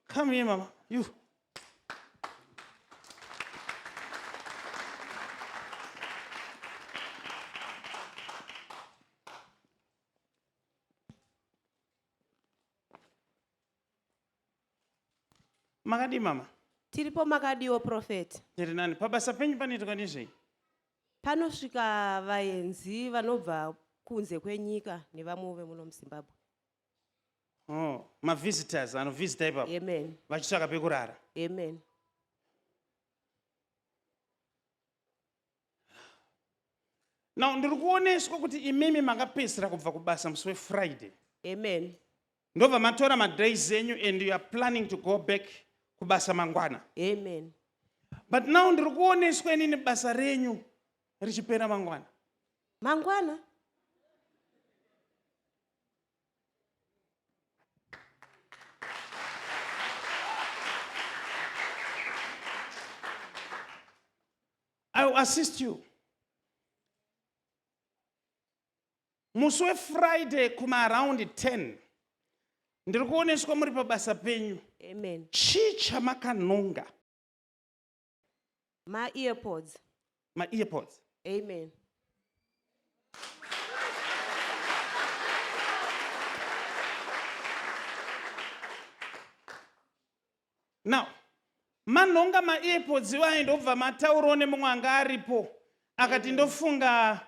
Come here, mama. You. makadii mama tiripo makadiwo profeti tiri nani pabasa penyu panoitwa nezvei panosvika vaenzi vanobva kunze kwenyika nevamwe vemuno muzimbabwe Oh, mavisitors anovhizita ipapo amen vachitsvaka pekurara amen now ndiri kuoneswa kuti imimi makapedzisira kubva kubasa musi wefriday amen ndobva matora madays enyu and you are planning to go back kubasa mangwana amen but now ndiri kuoneswa inini basa renyu richipera mangwana mangwana I will assist you. musi wefriday kumaaround 10 ndiri kuoneswa muri pabasa penyu chii chamakanonga maearpods maearpods amen now manhonga maearpods iwayo ndobva mataurawo nemumwe anga aripo akati ndofunga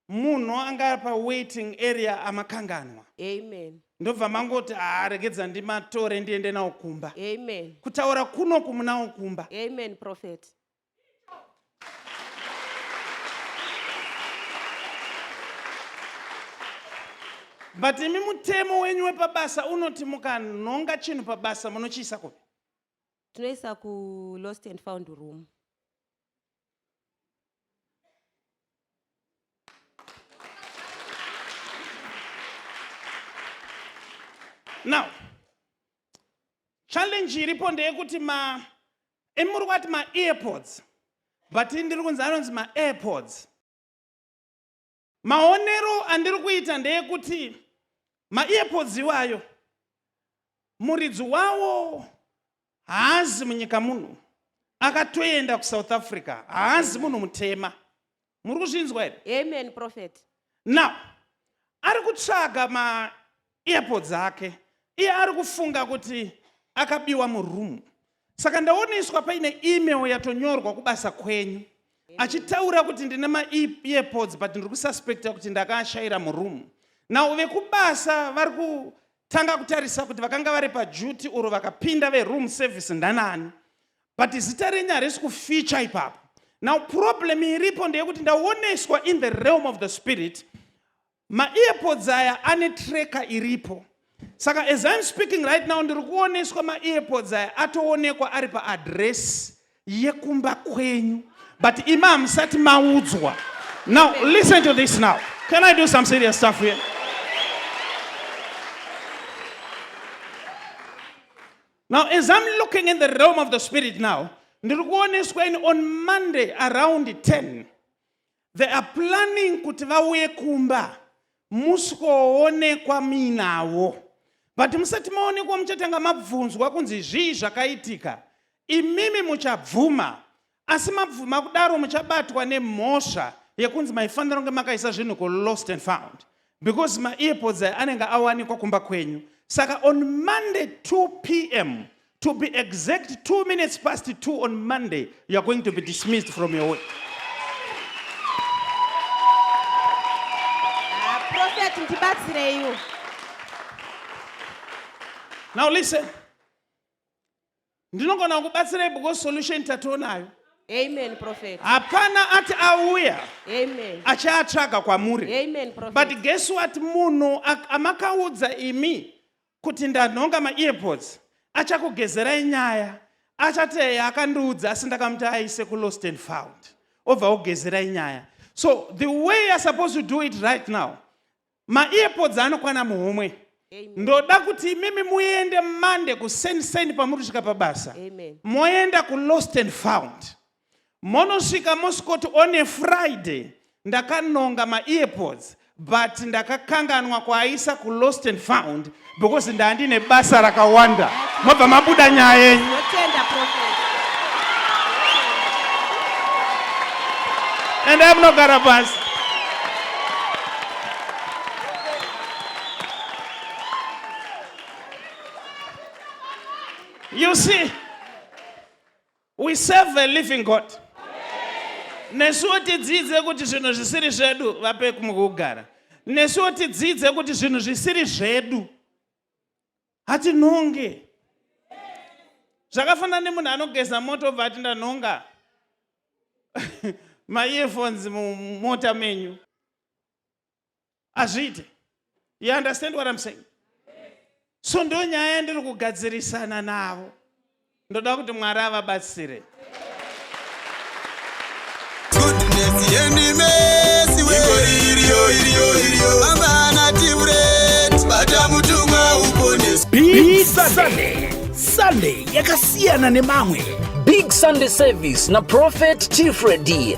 Munhu anga pa waiting area amakanganwa. Amen. Ndobva mangoti haa ah, regedza ndimatore ndiende nawo kumba. Amen. Kutaura kuno kumunawo kumba. Amen prophet. but imi mutemo wenyu wepabasa unoti mukanhonga chinhu pabasa munochiisa kupi tinoisa kulost and found room now challenge iripo ndeyekuti ma emuri kwati maearpods but ndiri kunzi anonzi maairpods Maonero andiri kuita ndeyekuti maearpods iwayo muridzi wawo haazi munyika muno akatoenda kusouth africa haazi munhu mutema muri kuzvinzwa here amen prophet now ari kutsvaga ma earpod dzake iye ari kufunga kuti akabiwa muroom saka ndaoneswa paine email yatonyorwa kubasa kwenyu achitaura kuti ndine maearpods e but ndiri kususpecta kuti ndakaashaira muroom now vekubasa vari kutanga kutarisa kuti vakanga vari paduty oro vakapinda veroom service ndanani but zita renyu harisi kufeature ipapo now problem iripo ndeyekuti ndaoneswa in the realm of the spirit maearpods aya ane tracker iripo saka as im speaking right now ndiri kuoneswa maearpods aya atoonekwa ari paadress yekumba kwenyu but imi hamusati maudzwa now listen to this now can i do some serious stuff here now as im looking in the realm of the spirit now ndiri kuoneswa ini on monday around 10 They are planning kuti vauye kumba musikoonekwa muinavo but musati maonekwa muchatanga mabvunzwa kunzi zvii zvakaitika imimi muchabvuma asi mabvuma kudaro muchabatwa nemhosva yekunzi maifanira kunge makaisa zvinhu kulost and found because maearpods aya anenge awanikwa kumba kwenyu saka on monday 2 pm to be exact 2 minutes past 2 on monday you are going to be dismissed from your work Ah, prophet ndibatsireiwo now listen ndinogona kukubatsirai because solution tatoonayo Amen, prophet. hapana ati auya Amen. achaatsvaga kwamuri Amen, prophet. but guess what munhu ak- amakaudza imi kuti ndanhonga maearpods achakugezerai nyaya achati eya akandiudza asi ndakamuti aise kulost and found obva ogezerai nyaya so the way you're supposed to do it right now maearpods anokwana muhomwe ndoda kuti imimi muende mande kuseni seni pamuri kusvika pabasa moenda kulost and found monosvika mosvikoti on a friday ndakanonga maearpods but ndakakanganwa kuaisa kulost and found because ndandine basa rakawanda mobva mabuda nyaya yenyu and amunogara pasi you see We serve a living God. Nesuwo tidzidze kuti zvinhu zvisiri zvedu vape kumukugara. Nesuwo tidzidze kuti zvinhu zvisiri zvedu hatinhonge. Zvakafanana nemunhu anogeza moto obva ati ndanhonga maearphones mumota menyu. hazviite you understand what I'm saying so ndo nyaya yandiri kugadzirisana navo ndoda kuti mwari avabatsire goodness yendimesi wegori iriyo iriyo iriyo mama anatiburet bata mutumwa uponeswa Big Sunday. Sunday yakasiyana nemamwe. Big Sunday Service na Prophet Tifredi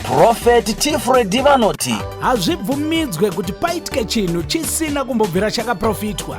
Prophet Tifred vanoti hazvibvumidzwe kuti paitike chinhu chisina kumbobvira chakaprofitwa.